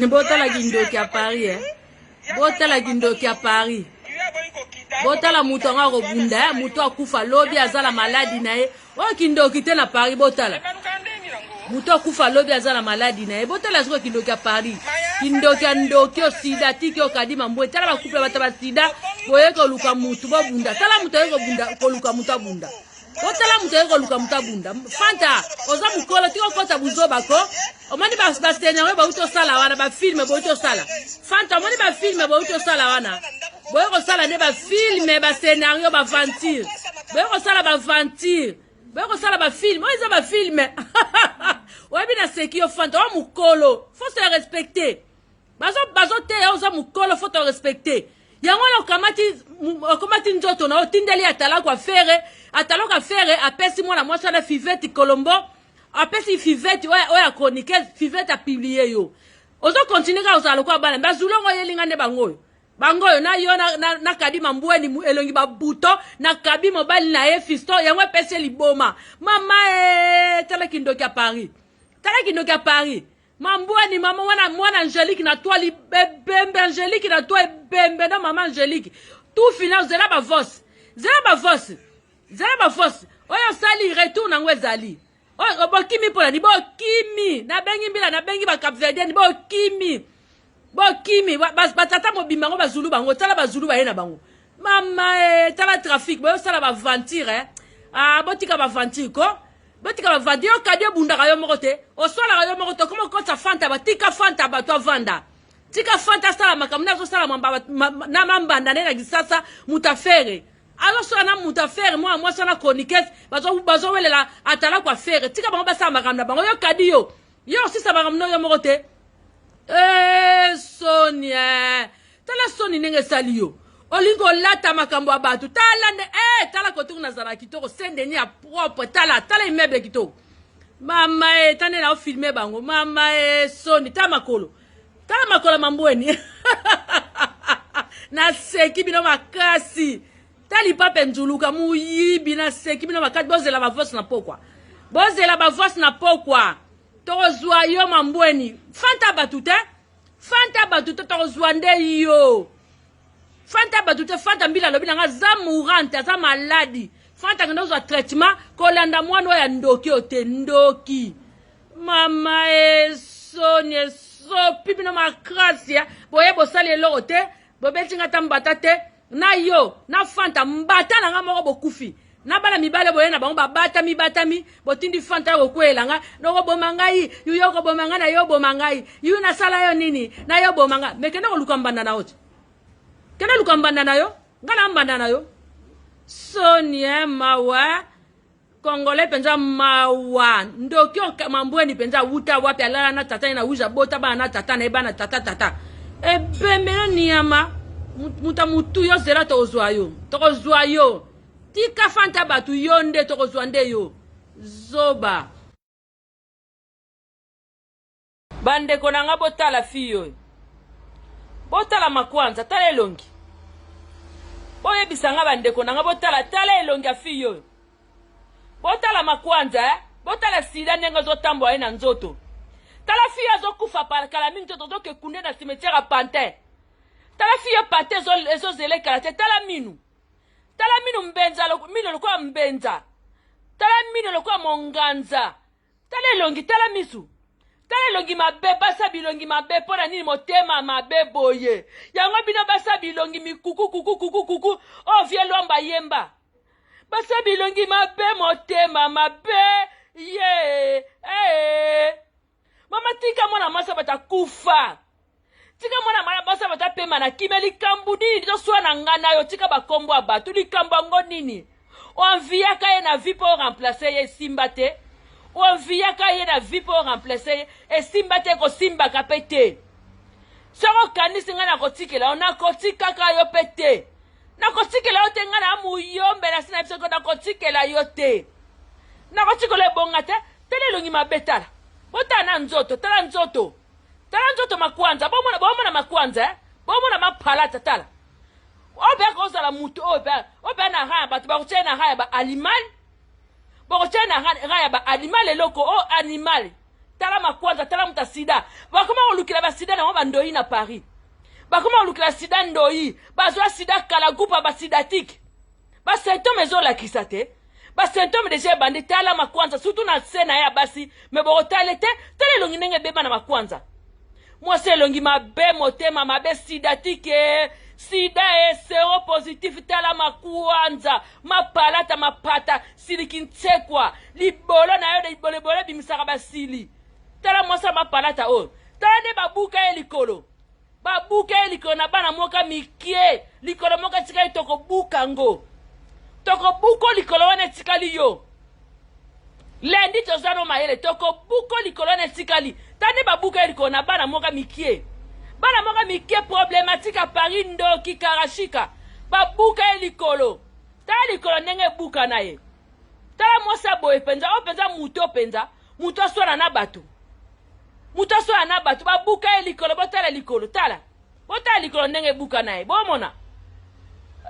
botala kindoki ya paris eh. botala kindoki ya paris botala moto yango akobunda eh. moto akufa lobi aza na maladi na ye Oyo kindoki te na Paris botala. Moto akufa lobi aza na maladi na ye botala sikoyo kindoki ya Paris. Kindoki ya ndoki yo sida tiki yo kadima mbwe tala ba couple bata ba sida boye koluka moto bobunda tala moto aye kobunda koluka moto abunda. Botala moto aye koluka moto abunda. Fanta oza mokolo tiki okota buzoba ko omoni ba scenario bauti osala wana bafilme bauti osala fanta omoni bafilme bauti osala wana boye kosala nde bafilme bascenario baventure boye kosala baventure boye kosala bafilme oyo eza bafilme oyebi na seki yo fanta oyo mokolo fo se respecte bazo bazo teya oza mukolo faut respecter yango wana okamati okomati nzoto na otindeli atalaku afere atalaku afere apesi mwana mwasi wana fiveti colombo apesi fiveti oyo ya chroniqueuse fiveti apiblie yo ozo continue kaka ozala lokola bana mbe azuli yango oyelinga nde bango oyo bango oyo na yo nakabi na mambweni elongi babuto nakabi mobali na ye fisto yango epesi ye liboma mama e tala kindoki ya paris tala kindoki ya paris Mambweni mama wana mwana Angelique na toi libebembe Angelique na toi ebembe na mama Angelique tout final zela ba voice zela ba voice zela ba voice oyo osali retour nango ezali bokimi mpo na nini bokimi nabengi mbila nabengi bacapverdienne bokimi bokimi batata mobimba yango bazulu bango tala bazulu baye na bango mama e tala trafic boyosala baventure eh? ah, botika baventure ko botika baventure yo kadi obundaka yo moko te oswalaka yo moko te okoma okotisa fanta batika fanta bato avanda tika fanta asala makambo nde azosala na mambanda nde na kisasa moto afere azosala na moto afere mwana mwasi wana chroniquese bazowelela atala kwa fere tika bango basala makambo na bango yo kadi yo Yo osisa makambo no yo moko te ee eh, soni eh. tala soni ndenge esali yo olingi kolata makambo ya bato tala nde ee eh, tala kotoku nazala kitoko sendeni ya propre tala tala immeuble kitoko mama e ta nde naofilme bango mama e soni ta makolo tala makolo mambweni naseki bino makasi tali pape nzuluka muyibi na seki bino makati bozela ba voice na pokwa bozela ba voice na pokwa tokozwa yo mambweni fanta bato te fanta bato te tokozwa nde yo fanta bato te fanta mbila alobi nanga aza mourante aza maladi fanta kende ozwa traitement kolanda mwana oyo ya ndoki oyo te ndoki mama esoni esopi bino makrasia boye bosali eloko te bobeti nga ta mbata te na yo na fanta mbata na nga moko bokufi na bana mibale boye na bango babatami batami botindi fanta ya kokweyela nga nokoboma ngai yuyo okoboma ngai na yo oboma ngai yuyo nasala yo nini na yo oboma ngai me kende koluka mbanda na yo te kende luka mbanda na yo ngai na mbanda na yo sonie mawa Congolais penza mawa ndoki mambweni penza awuta wapi alala na tata ye na wiza bota bana na tata na ye bana tata tata ebemelo niyama muta mutu yo zela tokozwa yo tokozwa yo tika fanta bato yo nde tokozwa nde yo zoba Bandeko na nga botala fille oyo. Botala makwanza, tala elongi. Boyebisa nga bandeko na nga botala tala elongi ya fille oyo. Botala makwanza eh? Botala sida ndenge ozotambola ye na nzoto. Tala fille azokufa par kala mingi te tozoke kunde na cimetière ya pantin. Tala fille pate ezozela ekala te tala minu. Tala minu mbenza minu lokola mbenza. Tala minu lokola monganza. tala elongi tala misu tala elongi mabe basa bilongi mabe mpo na nini motema mabe boye yango bino basa bilongi mikuku kuku kuku kuku oyo oh, vie lwamba yemba basa bilongi mabe motema mabe ye ee eh. mama tika mwana mwasi abata kufa tika mwana mwana basi bato apema na kimia likambo nini tozoswana na ngai na yo tika bakombo ya bato likambo yango nini oanviyaka ye na vie mpo oremplace ye esimba te oanviyaka ye na vie mpo oremplace ye esimba te kosimbaka mpe te soki okanisi ngai nakotikela yo nakotikaka yo mpe te nakotikela yo te ngai na muyombe na si na biso nakotikela yo te nakotikela ebonga te tala elongi mabe tala botala na nzoto tala nzoto Tala nzoto makwanza, bomona bomona makwanza eh? Bomona mapalata tala. Obeka ozala mutu oyo pe obe na raya bato bakotia na raya ba animal. Bakotia na raya ba animal eloko o oh, animal. Tala makwanza, tala muta sida. Bakoma kolukela ba sida na ba ndoyi na Paris. Bakoma kolukela sida ndoyi, bazwa sida kala gupa ba sidatique. ba symptome ezolakisa te ba symptome deja ebandi tala makwanza surtout na se na ye ya basi me bokotale te tala elongi ndenge ebeba na makwanza mwasi elongi mabe motema mabe sidatike sida e sero positif tala makwanza mapalata mapata siliki nsekwa libolo na yo de libolebolo ebimisaka basili tala mwasi ya mapalata oyo tala nde babuka ye likolo Babuka ye likolo na bana moka mikie, likolo moko etikali tokobuka ngo. Tokobuko likolo wana etikali yo. Lendi toza no mayele, tokobuko likolo wana etikali. Tande babuka ye likolo na bana moka mikie. Bana moka mikie problematique à Paris ndoki karashika. Babuka ye likolo. Tala likolo ndenge ebuka na ye. Tala mwasi ya boye penza, oyo penza moto penza. moto aswana na bato moto aswana na bato babuka ye likolo botala likolo tala botala likolo ndenge ebuka na ye bomona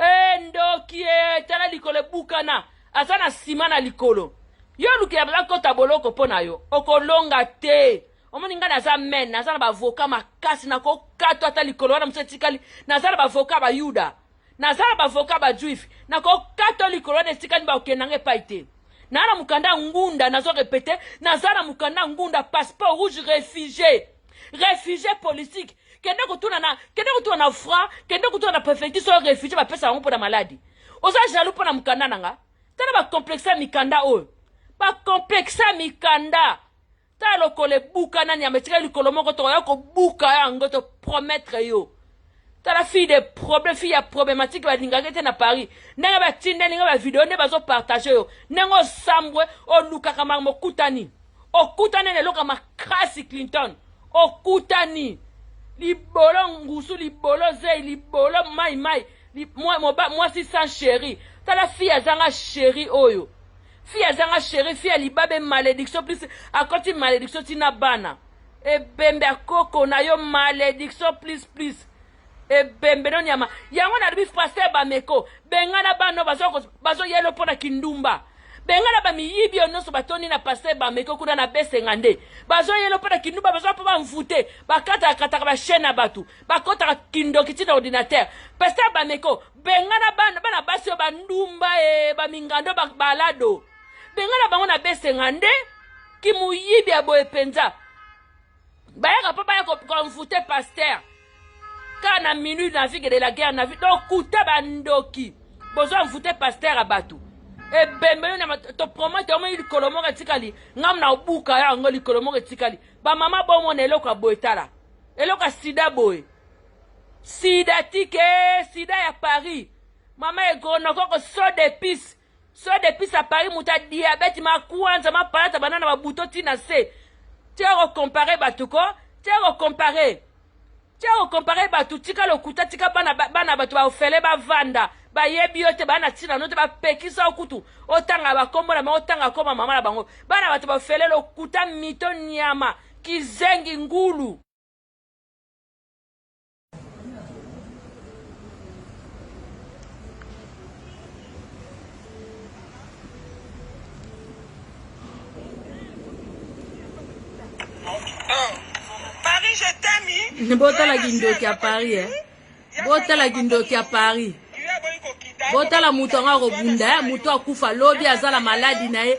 e ndoki e tala likolo ebukana aza na nsima na likolo yo olukela baza kota boloko mpo na yo okolonga te omoni ngai naza men naza na bavoka makasi nakokatwa ata likolo wana mosu etikali naza na bavoka bayuda naza na bavoka bajuif nakokata likolo wana etikani bakokenda nga epai te naa na mokanda ya ngunda nazo repete naza na mokanda ya ngunda passeport rouge réfugié réfugié politique kende kotuna na kende kotuna na fra kende kotuna na préfecture soyo réfugié bapesa yango mpo na maladi oza jaloux mpo na mokanda na nga tala bacomplexe ya mikanda oyo bacomplexe ya mikanda ta lokola ebuka nani yamba etikali likolo moko tokoya kobuka yango to promettre yo tala fille de problème fille ya problématique balingaki te na paris ndenge batindeli nga bavideo nde bazopartage yo ndenge osambwe olukaka makambo okutani okutani na eloko ya makasi clinton okutani libolo ngusu libolo zei libolo mai mai mwasi sans chéri tala fille azanga chéri oyo Fille azanga chérie, fille ya libabe malediction plus akoti malediction ti na bana. Ebembe ya koko na yo malediction plus plus. Ebembe no nyama. Yango na lobi pasteur Bameko, bengana bana bazo bazo yelo mpo na kindumba. Bengana ba miyibi oyo nyonso batondi na pasteur Bameko kuna na besenga nde. Bazo yelo mpo na kindumba bazo mpo ba mvute, bakata kataka ba chaîne na batu, bakota kindoki ti na ordinateur. Pasteur Bameko bengana bana bana basi oyo bandumba e bamingando balado bengana bango na besenga nde kimuyibi ya boye mpenza bayaka mpo baya konfute paster kaka na minute na vie de la guerre na vie dokuta bandoki bozo envoute paster ya bato ebembe yo na topromete yango likolo moko etikali ngam na obuka yango likolo moko etikali bamama bomona eloko ya boye tala eloko ya sida boye Sida tike sida ya Paris. Mama egonokoko so d'épices. So d'épices à Paris muta diabète ma kwanza ma palata banana ba buto tina se. Te ko comparer batu ko, te ko comparer. Te ko comparer batu tika lokuta tika bana bana batu ba ofele ba vanda. bayebi yo te bana ntina no te bapekisa yo kutu otanga bakombo na bango otanga koma mama na bango bana bato bafele lokuta mito nyama kizengi ngulu botala kindoki ya paris eh. botala kindoki ya paris botala moto yango akobunda eh. moto akufa lobi aza na maladi na ye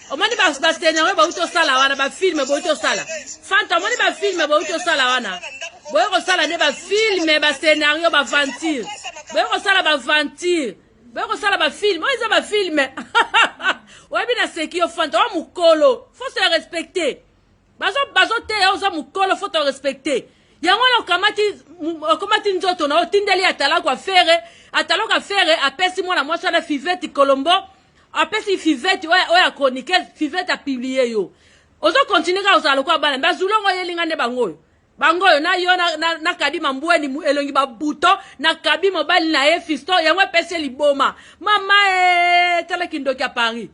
omoni basenero oyo bauti osala wana bafilme bouti osala fanta omoni bafilme bouti osala wana boye kosala nde bafilme basenario baventure boye kosala baventure boye kosala bafilme oyo eza bafilme oyebi na seki yo fanta oyo mokolo fo se respecte bazoteya oza mokolo fo to respecte yango wana okamati okomati nzoto na otindeli atalaku afere atalaku afere apesi mwana mwasi wana fiveti colombo apesi fivette oyo ya chroniqueuse fivette apiblie yo ozo continue kaka ozala lokola bana bazulu yango oyelinga nde bango oyo bango oyo na yo na, na, na kadima mbweni elongi babuto na kabi mobali na ye fisto yango epesi ye liboma mama e tala kindoki ya paris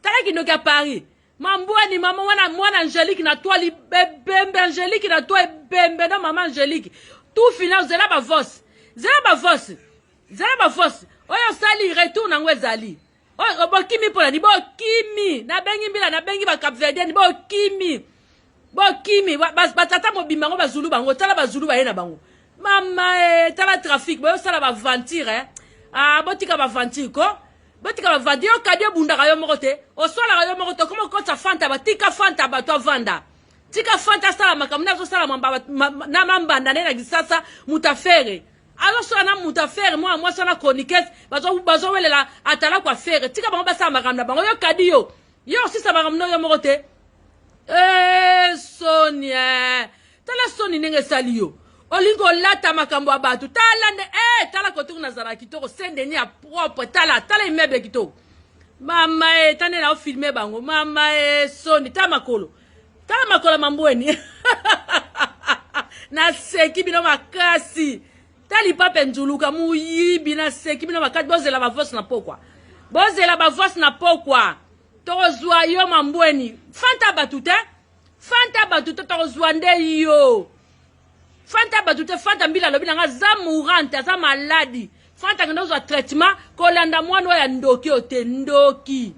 tala kindoki ya paris mambweni mama wana mwana angelique na toi libebembe angelique na toi ebembe na mama angelique tufina ozela bavosi zela bavosi Zala ba force. Oyo sali retour nango ezali. Oyo bokimi pona ni bokimi. Na bengi mbila na bengi ba Capverdienne bokimi. Bokimi batata mobimba ngo bazulu bango tala bazulu baye na bango. Mama eh, tala trafic boyo sala ba venture eh. Ah botika ba venture ko. Botika ba venture yo kadi obundaka yo moko te. Osolaka yo moko te okoma okotsa fanta batika fanta bato avanda. tika fanta asala makambo nde azosalama na mambanda nde na lisasa mutafere azosala na moto afere mwana mwasi wana chroniquese bazowelela atalaku afere tika bango basala makambo na bango yo kadi yo yo osisa makambo no yo moko te eh, soni eh. tala soni ndenge esali yo olingi kolata makambo ya bato tala nde e eh, tala kotoki nazala kitoko sendeni ya propre tala tala immeuble kitoko mama e tande na ofilme bango mama e soni ta makolo tala makolo mambweni naseki bino makasi ta lipape nzuluka moyibi naseki bino makasi bozela bavoice na pokwa bozela bavoice na pokwa tokozwa yo mambweni fanta bato te fanta bato te tokozwa nde yo fanta bato te fanta mbila alobi na nga aza mourante aza maladi fanta kende ozwa traitement kolanda mwana oyo ya ndoki oyo te ndoki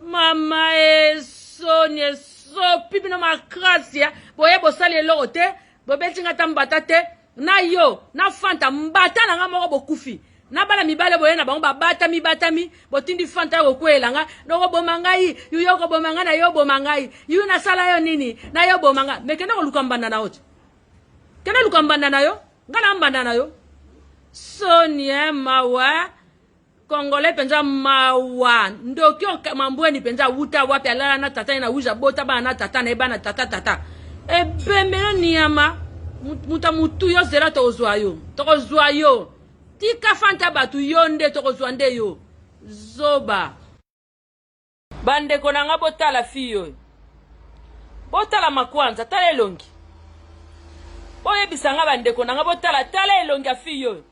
mama esoni esopi bino makasi ya boye bosali eloko te bobeti nga ta mbata te na yo na fanta mbata na nga moko bokufi na bana mibale boye na bango babatami batami botindi fanta ya kokweyela nga nokoboma ngai yuyo okoboma ngai na yo oboma ngai yuyu nasala yo nini na yo oboma ngai me kende koluka mbanda na yo te kende luka mbanda na yo ngai na mbanda na yo sonie mawa Congolais penza mawa ndoki mambweni penza awuta wapi alala na tata ye na wiza bota bana na tata na ye bana tata tata ebemelo niyama muta mutu yo zela tokozwa yo tokozwa yo tika fanta bato yo nde tokozwa nde yo zoba Bandeko na nga botala fille oyo. Botala makwanza, tala elongi. Boyebisa nga bandeko na nga botala tala elongi ya fille oyo.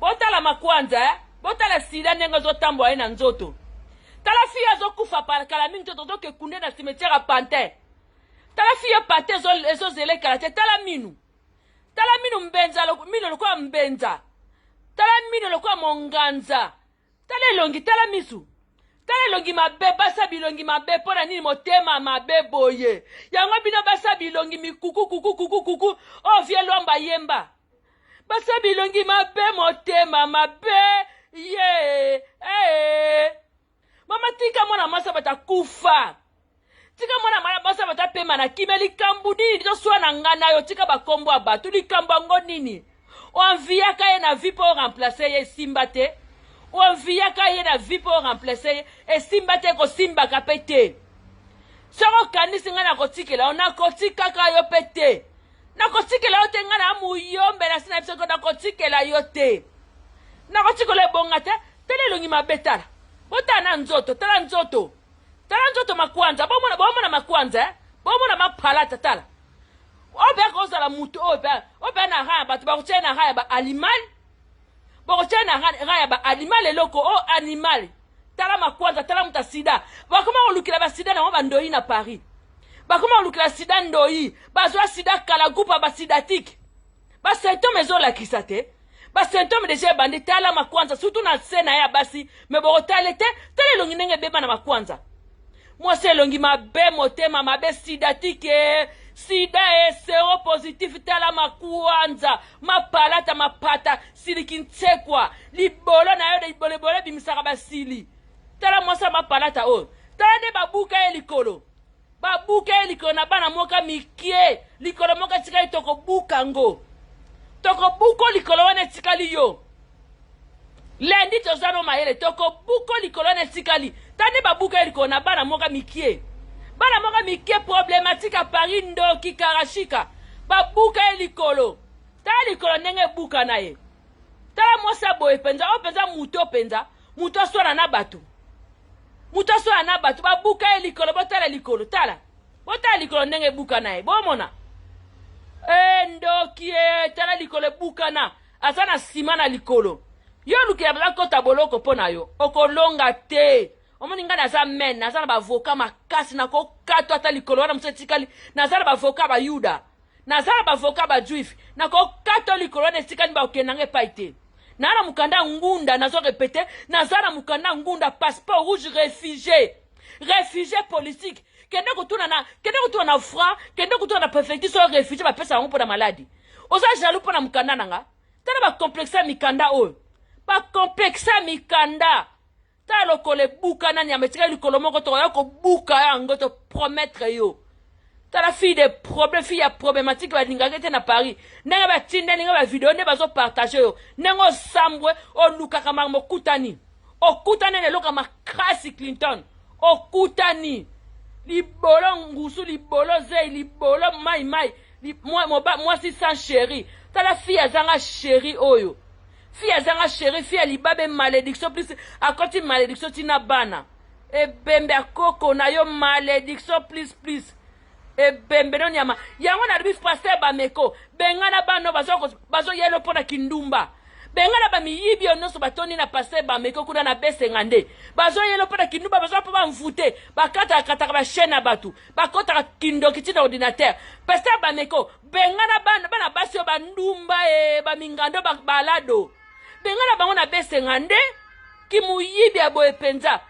Botala makwanza eh? Botala sida ndenge azotambola ye na nzoto. Tala fille azokufa par kala mingi te tozoke kunde na cimetière ya pantin. Tala fille pate ezozela ekala te tala minu. Tala minu mbenza minu lokola mbenza. Tala minu lokola monganza. tala elongi tala misu tala elongi mabe basa bilongi mabe mpo na nini motema mabe boye yango bino basa bilongi mikuku kuku kuku kuku oyo oh, vie lwamba yemba basa bilongi mabe motema mabe ye ee eh. mama tika mwana mwasi abata kufa tika mwana mwana basi bato apema na kimia likambo nini toswa na ngai na yo tika bakombo ya bato likambo yango nini oanviyaka ye na vie mpo oremplace ye esimba te oanviyaka ye na vie mpo oremplace ye esimba te kosimbaka mpe te soki okanisi ngai nakotikela yo nakotikaka yo mpe te nakotikela yo te ngai na muyombe na si na biso nakotikela yo te nakotikela ebonga te tala elongi mabe tala botala na nzoto tala nzoto Tala nzoto makwanza, bomona bomona makwanza eh? Bomona mapalata tala. Obeka ozala mutu oyo pe obe na rang bato bakotia na rang ya ba animal. Bakotia na rang ya ba animal eloko o oh, animal. Tala makwanza, tala muta sida. Bakoma kolukela ba sida na ba ndoyi na Paris. Bakoma kolukela sida ndoyi, bazwa sida kala gupa ba sidatique. ba symptome ezolakisa te ba symptome deja ebandi tala makwanza surtout na se na ye ya basi me bokotale te tala elongi ndenge ebeba na makwanza mwasi elongi mabe motema mabe sidatike sida e sero positif tala makwanza mapalata mapata siliki nsekwa libolo na yo libolebolo ebimisaka basili tala mwasi ya mapalata oyo tala nde babuka ye likolo Babuka ye likolo na bana moka mikie, likolo moko etikali tokobuka ngo. Tokobuko likolo wana etikali yo. Lendi toza no mayele, tokobuko likolo wana etikali. Tande babuka ye likolo na bana moka mikie. Bana moka mikie problematique à Paris ndoki karashika. Babuka ye likolo. Tala likolo ndenge ebuka na ye. Tala mwasi ya boye penza, oyo penza moto penza. moto aswana na bato moto aswana na bato babuka ye likolo botala likolo tala botala likolo ndenge ebuka na ye bomona e ndoki e tala likolo ebukana aza na nsima na likolo yo olukela baza kota boloko mpo na yo okolonga te omoni ngai naza men naza na bavoka makasi nakokatwa ata likolo wana mosusu etikali naza na bavoka bayuda naza na bavoka bajuif nakokata likolo wana etikani bakokende nanga epai te naa na mokanda ya ngunda nazo repete naza na mokanda ya ngunda passeport rouge réfugié réfugié politique kende kotuna na kende kotuna na fra kende kotuna na préfecture soki réfugié bapesa yango mpo na maladi oza jaloux mpo na mokanda na nga tala bacomplexe ya mikanda oyo bacomplexe ya mikanda ta lokolo ebukana nyama etikali likolo moko tokoya kobuka yango to promettre yo tala fille de problème fille ya problématique balingaki te na paris ndenge batindeli nga bavideo nde bazopartage yo ndenge osambwe olukaka makambo okutani okutani na eloko ya makasi clinton okutani libolo ngusu libolo zei libolo mai mai mwasi sans chéri tala fille azanga chéri oyo Fille azanga cherie, fille ya libabe malediction plus akoti malediction ti na bana. Ebembe ya koko na yo malediction plus plus. Ebembe no nyama. Yango na lobi pasteur Bameko, bengana bano bazo bazo yelo pona kindumba. Bengana ba miyibi yo nyonso batoni na pasteur Bameko kuna na besenga nde. Bazo yelo pona kindumba bazo pa ba mvute, bakata kataka ba chaîne na batu, bakota kindoki ti na ordinateur. Pasteur Bameko bengana bana, bana basi oyo bandumba e bamingando balado bengana bango na besenga nde kimuyibi ya boye mpenza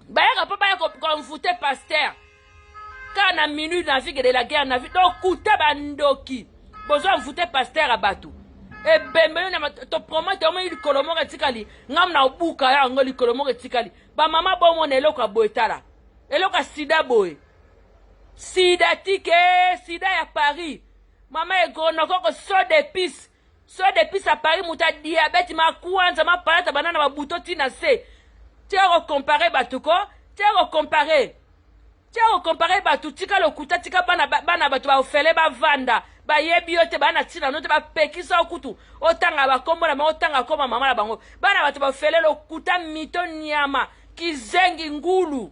bayaka mpo baya konfute paster kaka na minute na vie de la guerre na vie dokuta bandoki bozo envoute paster ya bato ebembe yo na topromete yango likolo moko etikali ngam na obuka yango likolo moko etikali bamama bomona eloko ya boye tala eloko ya sida boye Sida tike sida ya Paris. Mama egonokoko so d'épices. So d'épices à Paris muta diabète ma kwanza ma palata banana ba buto tina se. Te ko comparer batu ko, te ko comparer. Te ko comparer batu tika lokuta tika bana bana batu ba ofele ba vanda. bayebi yo te bana ntina no te bapekisa yo kutu otanga bakombo na bango otanga koma mama na bango bana bato bafele lokuta mito nyama kizengi ngulu